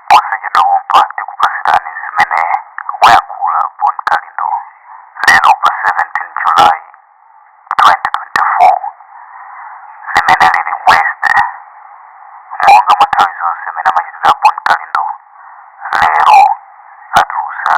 posachedwa pompa tikupatsirani zimene wayankhula bon kalindo lero pa 17 july 2024 limene lili west monga mwa nthawi zonse mmene amachitira bon kalindo lero atulusa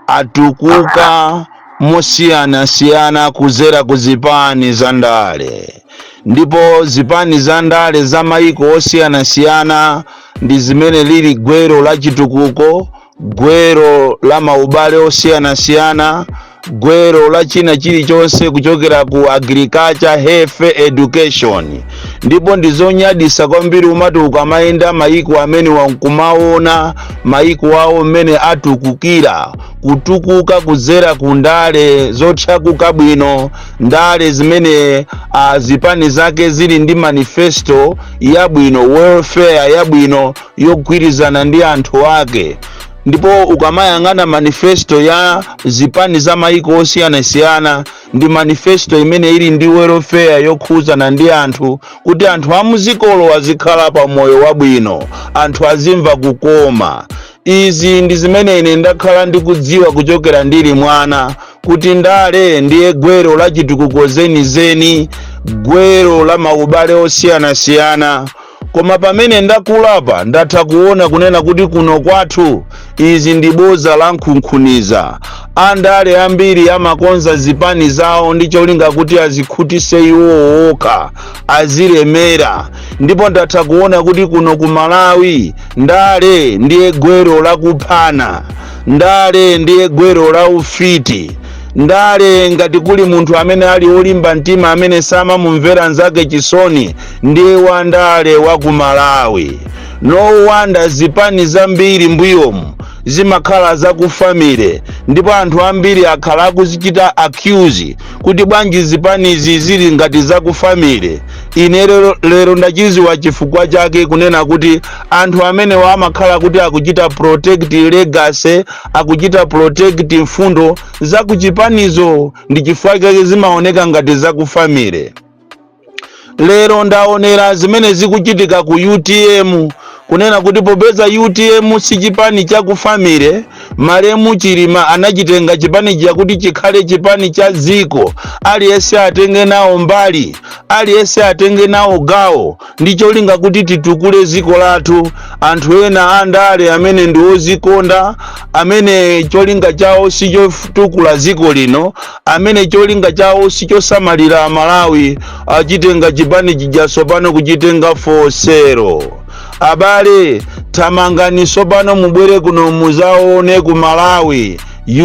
atukuka mosiyanasiyana kuzera ku zipani za ndale ndipo zipani za ndale za mayiko osiyanasiyana ndi zimene lili gwero la chitukuko gwero la maubale osiyanasiyana gwero la china chilichonse kuchokera ku agriculture health education ndipo ndi zonyadisa kwambiri umati ukamayenda mayiko amene n'kumaona mayiko awo mmene atukukira kutukuka kudzera ku ndale zotchakuka bwino ndale zimene uh, zipani zake zili ndi manifesto yabwino welfare yabwino yogwirizana ndi anthu ake ndipo ukamayang'ana manifesto ya zipani za maiko osiyanasiyana ndi manifesto imene ili ndi welfare yokhudzana ndi anthu kuti anthu a m'dzikolo azikhala pa moyo wabwino anthu azimva kukoma izi ndi zimene ine ndakhala ndikudziwa kuchokera ndili mwana kuti ndale ndiye gwero la chitukuko zenizeni gwero la maubale osiyanasiyana Koma pamene ndakulapa ndatha kuona kunena kuti kuno kwathu izi ndi boza la nkhunkhuniza. Andale ambiri amakonza zipani zawo ndi cholinga kuti azikhutise iwo okha, azilemera. Ndipo ndatha kuona kuti kuno ku Malawi ndale ndiye gwero la kuphana. Ndale ndiye gwero la ufiti. Ndale ngati kuli munthu amene ali olimba mtima amene samamumvera nzake chisoni Ndiye wandale wa ku Malawi. No wonder zipani zambiri mbuyomu zimakhala za ku family ndipo anthu ambiri akhala akuzichita accuse kuti bwanji zipanizi zili ngati za ku family. Ine lero ndachiziwa chifukwa chake kunena kuti anthu amenewa amakhala kuti akuchita protect legacy, akuchita protect mfundo za ku chipanizo ndi chifukwa chake zimaoneka ngati za ku family. lero ndaonera zimene zikuchitika ku utm kunena kuti popeza utm si chipani cha ku family malemu chilima anachitenga chipanichi kuti chikhale chipani cha dziko aliyense atenge nawo mbali aliyense atenge nawo gawo ndi cholinga kuti titukule dziko lathu anthu ena andale amene ndi ozikonda amene cholinga chawo si chotukula dziko lino amene cholinga chawo sichosamalira amalawi achitenga chipani chija sopano kuchitenga for sale abale thamangani sopano mubwere kuno muzaone ku malawi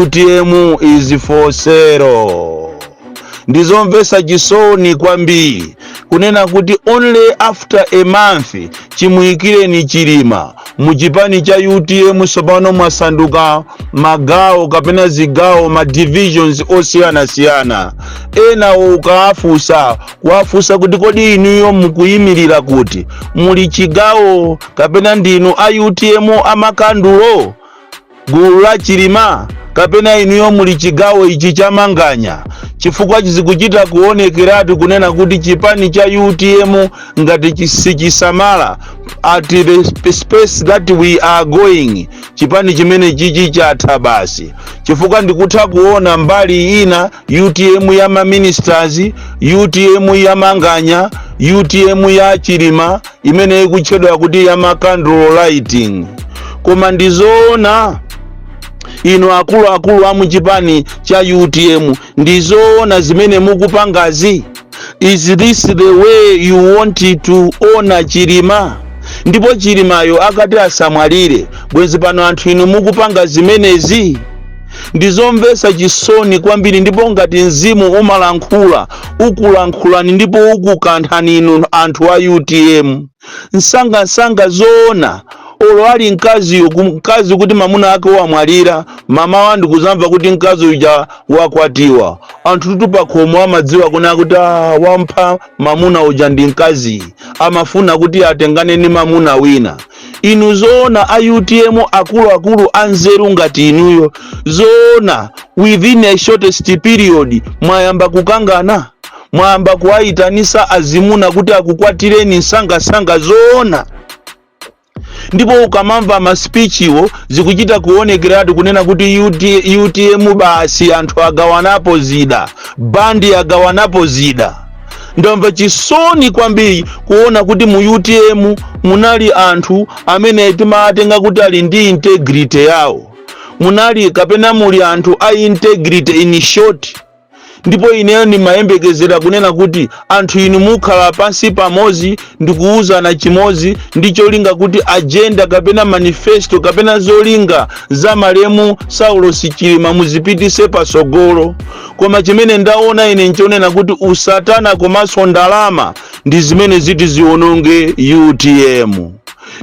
utm is for sale ndizomvesa chisoni kwambiri kunena kuti only after a month chimuyikireni chilima mu chipani cha utm tsopano mwasanduka magawo kapena zigawo ma divisions osiyanasiyana enawo ukawafunsa kuwafunsa kuti kodi inuyo mukuyimirira kuti muli chigawo kapena ndinu a utm amakandulo gulu la chilima kapena inuyo muli chigawo ichi cha manganya chifukwa zikuchita kuonekeratu kunena kuti chipani cha utm ngati chi- sichisamala at the sp- space that we are going chipani chimene chichi chatha basi chifukwa ndikutha kuona mbali ina utm ya maministers utm ya manganya utm ya chilima imene ikutchedwa kuti ya ma candle lighting koma ndi zoona inu akuluakulu a muchipani cha utm ndi zoona zimene mukupangazi is this the way you want to honor chilima ndipo chilimayo akati asamwalire bwenzi pano anthu inu mukupanga zimenezi ndi zomvetsa chisoni kwambiri ndipo ngati mzimu umalankhula ukulankhulani ndipo ukukanthani inu anthu a utm nsangansanga zoona olo ali mkaziyo ku- mkazi kuti mamuna ake wamwalira mamawa ndikuzamva kuti mkazi uja wakwatiwa anthu tutu pakhomo amadziwa kunena kuti "Ah, wampha mamuna uja ndi mkaziyu amafuna kuti atengane ni mamuna wina Inu zoona a utm akuluakulu anzeru ngati inuyo zoona within a shortest period mwayamba kukangana mwayamba kuwayitanisa azimuna kuti akukwatireni nsangasanga zoona ndipo ukamamva maspichiwo zikuchita kuonekeratu kunena kuti UT, utm basi anthu agawanapo zida bandi agawanapo zida ndamva chisoni kwambiri kuona kuti mu utm munali anthu amene timawatenga kuti ali ndi integrity yawo munali kapena muli anthu a integrity in short ndipo ineyo ndimayembekezera kunena kuti anthu inu mukhala pansi pamodzi ndikuwuzana chimodzi ndi cholinga kuti agenda kapena manifesto kapena zolinga za malemu saulosi chilima muzipitise patsogolo koma chimene ndaona ine nchonena kuti usatana komanso ndalama ndi zimene ziti ziononge utm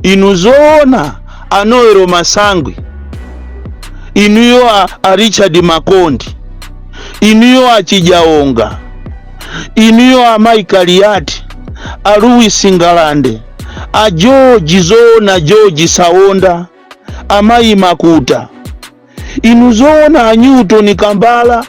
inu zoona a noel masangwi inuyo a, a richard makondi inuyo a chidyaonga inuyo amayi kaliati a louis ngalande a george zoona george saonda amayi makuta inu zoona a newton kambala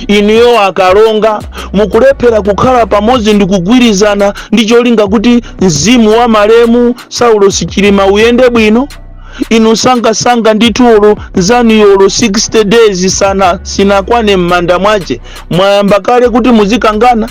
inuyo a kalonga mukulephera kukhala pamodzi ndi kugwirizana ndi cholinga kuti mzimu wa malemu saulosi chilima uyende bwino inu nsangansanga ndithu olo nzanuyo olo 60 days sana sinakwane m'manda mwache mwayamba kale kuti muzikangana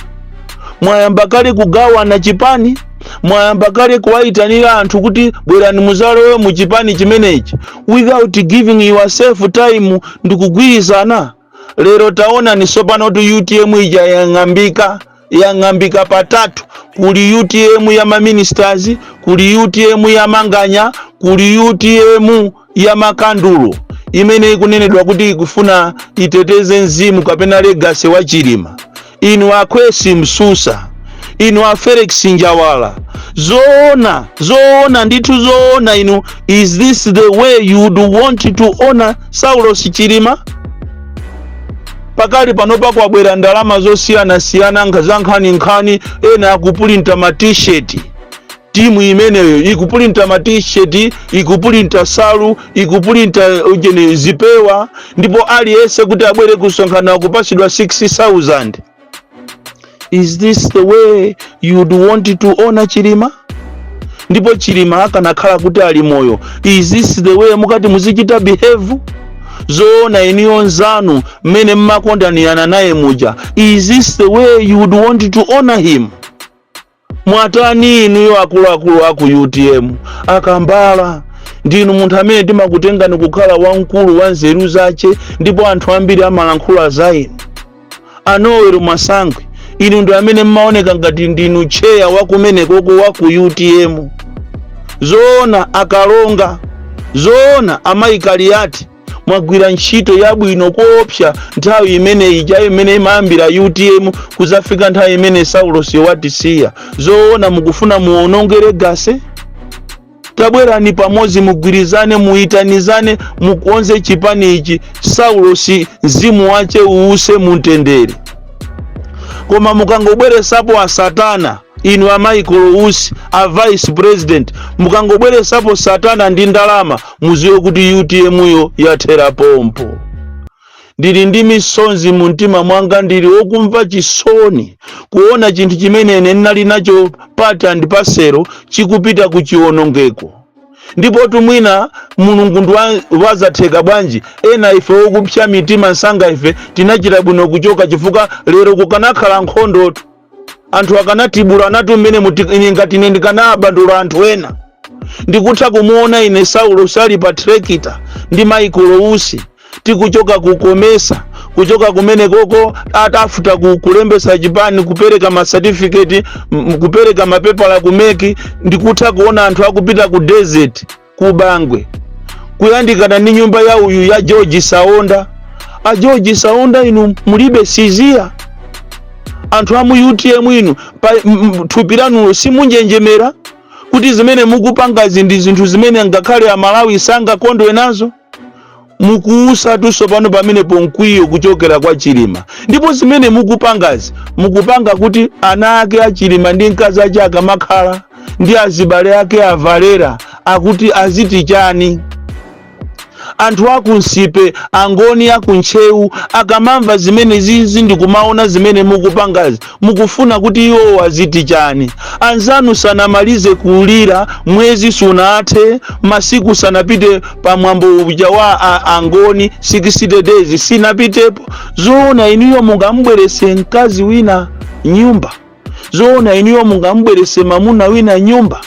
mwayamba kale kugawana chipani mwayamba kale kuwayitanira anthu kuti bwerani muzalowe mu chipani chimenechi without giving yourself time ndi kugwirizana lero taonani tsopanotu utm ija yang'ambika yang'ambika patatu kuli utm ya maministers kuli utm ya manganya kuli utm ya makandulo imene ikunenedwa kuti ikufuna iteteze mzimu kapena legacy wa chilima inu a Khwesi Msusa, inu a Felix Njawala, zoona zoona ndithu zoona inu, is this the way you would want to honor Saulos Chilima? pakali panopa kwabwera ndalama zosiyanasiyana nkha- zankhaninkhani ena akupulinta ma t-shirt timu imeneyo ikupulinta ma t-shirt ikupulinta salu ikupulinta ujeni zipewa ndipo aliyense kuti abwere kusonkhana kupasidwa 6000 is this the way you'd want to honor chilima ndipo chilima akanakhala kuti ali moyo is this the way mukati muzichita behave zoona inuyo nzanu mmene mmakondanirana naye muja is this the way you would want to honor him Mwatani inuyo akuluakulu aku utm a kambala ndinu munthu amene timakutengani kukhala wamkulu wa nzeru zache ndipo anthu ambiri amalankhula za inu a noel masangwi inu ndi amene mmaoneka ngati ndinu tcheya wakumenekoko wa ku utm zoona a kalonga zoona amayi kaliati mwagwira ntchito yabwino koopsa nthawi imene ija imene imayambira utm kuzafika nthawi imene saulos watisiya zoona mukufuna muononge legacy tabwerani pamodzi mugwirizane muyitanizane mukonze chipani ichi saulos mzimu wache uuse mumtendere koma mukangobweresapo asatana inu a michael usi a vice president mukangobweresapo satana ndi ndalama muziwe kuti utm yo yathera pompo ndili ndi misonzi mu mtima mwanga ndili wokumva chisoni kuona chinthu chimene ine ndinali nacho part and parcel chikupita ku chiwonongeko ndipo tu mwina mulungu ndi wa- wazatheka bwanji ena ife wokupsa mitima msanga ife tinachita bwino kuchoka chifukwa lero kukanakhala nkhondotu anthu akanatibulanatu mmene muti- ine ngati ine ndikanabandula anthu ena ndikutha kumuona ine saulos ali pa trekita ndi michael usi tikuchoka kukomesa kuchoka kumenekoko atafuta ku- kulembesa chipani kupereka masatifiketi m- kupereka mapepala ku mec ndikutha kuona anthu akupita ku desert ku bangwe kuyandikana ndi nyumba ya uyu ya george saonda a george saonda inu mulibe siziya anthu a mu utm inu pa m- m- thupi lanulo simunjenjemera kuti zimene mukupangazi ndi zinthu zimene ngakhale amalawi sangakondwe nazo mukuutsatu tsopano pamenepo mkwiyo kuchokera kwa chilima ndipo zimene mukupangazi mukupanga kuti ana ake a chilima ndi mkazi ache akamakhala ndi azibale ake a valera akuti aziti chani anthu a ku nsipe angoni a ku ntcheu akamamva zimene zizi ndikumaona zimene mukupangazi mukufuna kuti iwowo aziti chani anzanu sanamalize kulira mwezi sunathe masiku sanapite pa mwambo uja wa a- angoni 60 days sinapitepo zoona inuyo mungambwerese mkazi wina m'nyumba zoona inuyo mungambwerese mamuna wina m'nyumba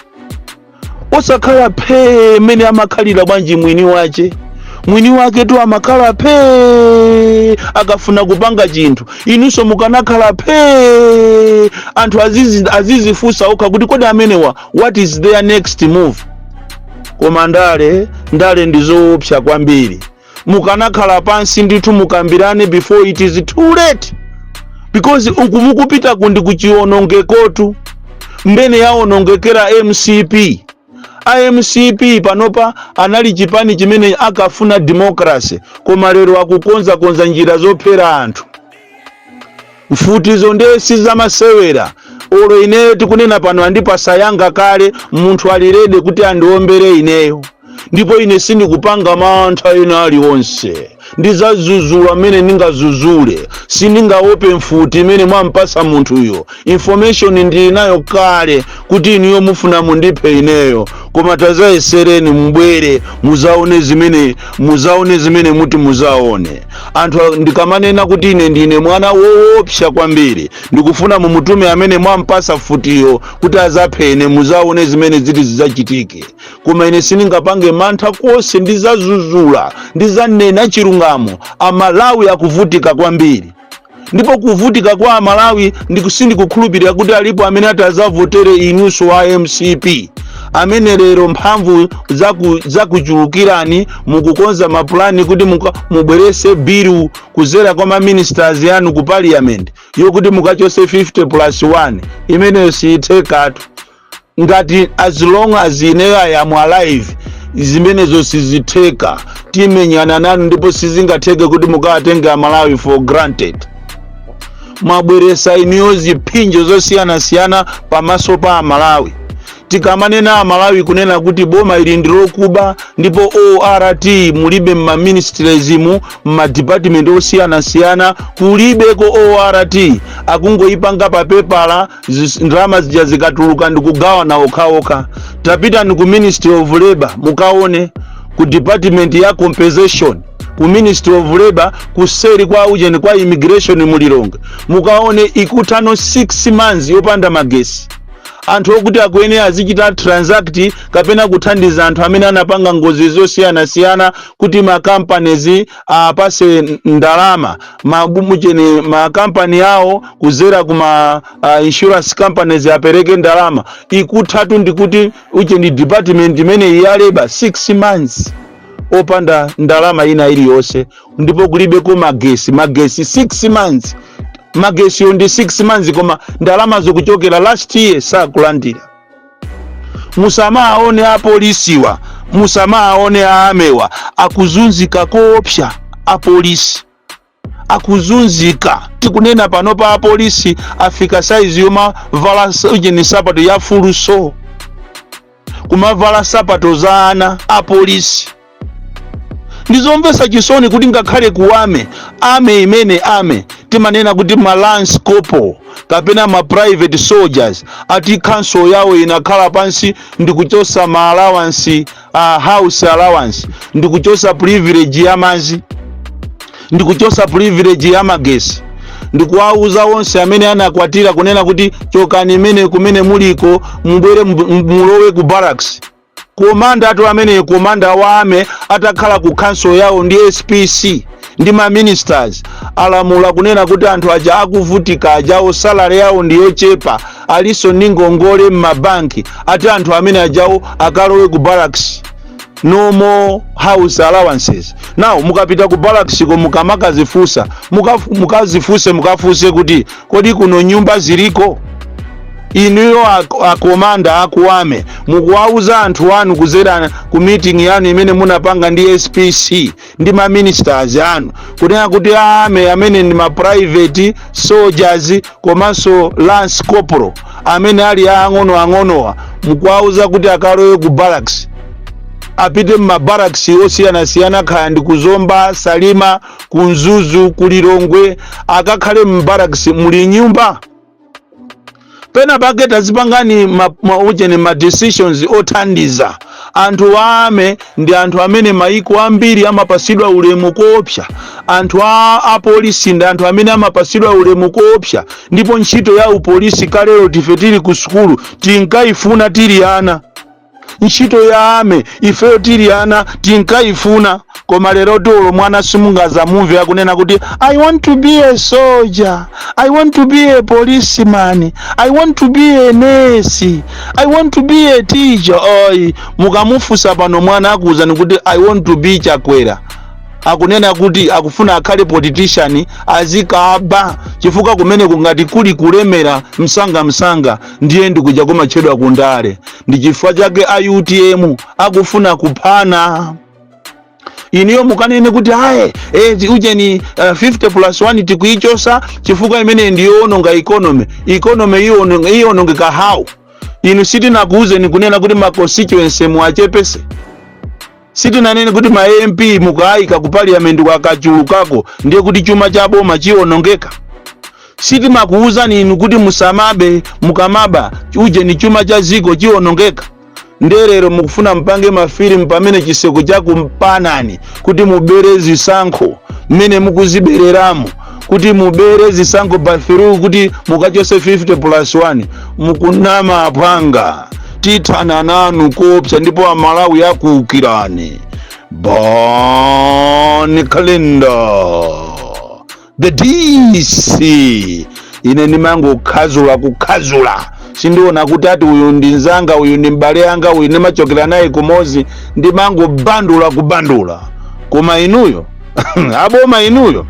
osakhala phee mmene amakhalira bwanji mwini wache mwini wake tu amakhala phee akafuna kupanga chinthu inunso mukanakhala phee anthu azizi- azizifunsa okha kuti kodi amenewa what is their next move koma ndale ndale ndi zoopsa kwambiri mukanakhala pansi ndithu mukambirane before it is too late because uku mukupita ku ndi ku chionongekotu mmene yaonongekera mcp a mcp panopa anali chipani chimene ankafuna democracy koma lero akukonzakonza njira zophera anthu mfutizo ndiye si zamasewera olo ineyo tikunena pano andipasa yanga kale munthu ali ready kuti andiombere ineyo ndipo ine sindikupanga mantha ena aliwonse ndizazuzula mmene ndingazuzule sindingaope mfuti imene mwampasa munthuyo information ndili nayo kale kuti inuyo mufuna mundiphe ineyo koma tazayesereni mubwere muzaone zimene muzaone zimene muti muzaone anthu a- ndikamanena kuti ine ndine mwana woopsa kwambiri ndikufuna mumutume amene mwampasa futiyo kuti azaphe ine muzaone zimene ziti zidzachitike koma ine sindingapange mantha konse ndizazuzula ndizanena chilungamo amalawi akuvutika kwambiri ndipo kuvutika kwa amalawi sindikukhulupirira kuti alipo amene atazavotere inunso wa mcp amene lero mphamvu zaku- zakuchulukirani mukukonza mapulani kuti muka- mubwerese bilu kuzera kwa maministers yanu ku parliament yokuti mukachose 50 plus 1 imeneyo siyithekatu ngati as long as ineyo i am alive zimenezo sizitheka timenyana nanu ndipo sizingatheke kuti mukawatenge amalawi for granted mwabweresa inuyo ziphinjo zosiyanasiyana pamaso pa amalawi tikamanena amalawi kunena kuti boma ili ndi lokuba ndipo ort mulibe mmaministriesmu mmadipatimenti osiyanasiyana kulibeko ort akungoyipanga papepala zis- ndalama zija zikatuluka ndikugawana okhaokha tapitani ku ministry of labor mukaone ku department ya compensation ku ministry of labor kuseri kwa ujeni kwa immigration mu lilongwe mukaone ikuthano 6 months yopanda magesi anthu okuti akuyenera azichita transact kapena kuthandiza anthu amene anapanga ngozi zosiyanasiyana kuti macompanies apase ndalama maujeni makampani awo kuzera kuma uh, insurance companies apereke ndalama ikuthatu ndikuti ujeni department imeneyi ya labor 6 months opanda ndalama ina iliyonse ndipo kulibeko magesi magesi 6 months magesiyo ndi 6 months koma ndalamazo kuchokera last year sakulandira musamaone apolisiwa musamaone a armywa akuzunzika koopsa apolisi akuzunzika tikunena panopa apolisi afika saizi yomavala ujeni sapato ya fuluso kumavala sapato za ana apolisi ndizomvetsa chisoni kuti ngakhale ku army army imene army timanena kuti ma lance corporal kapena ma private soldiers ati council yawo inakhala pansi ndikuchosa ma allowance uh, house allowance ndikuchosa privilege ya mazi ndikuchosa privilege ya magesi ndikuwauza onse amene anakwatira kunena kuti chokani imene kumene muliko mubwere mub- mulowe ku barracks komanda athu ameneyo komanda wa army atakhala ku council yawo ndi spc ndi ma ministers alamula kunena kuti anthu aja akuvutika ajawo salary yawo ndi yochepa alinso ndi ngongole m'mabanki ati anthu amene ajawo akalowe ku barracks no more house allowances now mukapita ku barracks ko mukamakazifunsa mukazifunse mukafunse kuti kodi kuno nyumba ziliko inuyo ak- akomanda aku army mukuwauza anthu anu kuzera ku meeting yanu imene munapanga ndi spc ndi ma ministers anu kunena kuti a army amene ndi ma private soldiers komanso lance corporal amene ali aang'ono ang'onowa mukuwauza kuti akalowe ku barracks apite m'mabarracks osiyanasiyana kaya ndi ku zomba salima ku mzuzu ku lilongwe akakhale m'barracks muli nyumba pena pake tazipangani ma, ma, ujeni ma decisions othandiza anthu a army ndi anthu amene maiko ambiri amapasidwa ulemu koopsa anthu a polisi ndi anthu amene amapasidwa ulemu koopsa ndipo ntchito ya upolisi kalero tife tili ku sukulu tinkayifuna tili ana ntchito ya army ifeyo tili ana tinkayifuna koma lerotu olo mwana simungazamumve akunena kuti i want to be a soldier i want to be a policeman i want to be a nurse i want to be a teacher ayi mukamufunsa pano mwana akuwuzani kuti i want to be chakwera akunena kuti akufuna akhale politician azikaba chifukwa kumene kungati kuli kulemera msanga msanga ndiye ndikuja kumatchedwa ku ndale ndi chifukwa chake a utm akufuna kuphana inuyo mukanene kuti ayi eti ujeni uh, 50 plus 1 tikuichosa chifukwa imeneyi ndiyowononga economy economy iyono- iyonongeka how inu sitinakuuzeni kunena kuti ma constituency muachepese sitinanene kuti ma mp mukaayika ku parliament kwakachulukako ndiye kuti chuma cha boma chiwonongeka sitimakuwuzani inu kuti musamabe mukamaba ujeni chuma cha ziko chiwonongeka ndiye lero mukufuna mpange mafilimu pamene chiseko chakumpanani kuti mubere zisankho mmene mukuzibereramo kuti mubere zisankho bathiru kuti mukachose 50 plus 1 mukunama aphwanga tithana nanu koopsa ndipo amalawi akuukirani bon kalindo the dc ine ndimangokhazula kukhazula sindiona kuti ati uyu ndi nzanga uyu ndi m'bale wanga uyu ndimachokera naye kumozi ndimangobandula kubandula koma inuyo aboma inuyo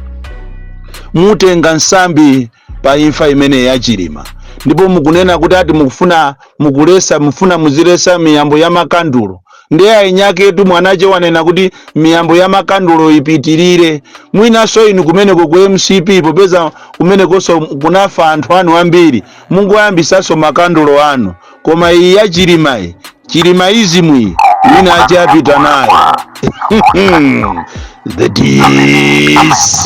mutenga nsambi pa imfa imene yachilima ndipo mukunena kuti ati mufuna mukulesa mufuna muzilesa miyambo ya makandulo ndiye ainyaketu mwanache wanena kuti miyambo ya makandulo ipitirire mwinanso inu kumeneko ku mcp popeza kumenekonso kunafa anthu anu ambiri mungoyambisanso makandulo anu koma iyi ya chilima iyi chilimaism iyi wina achapita nayo the dc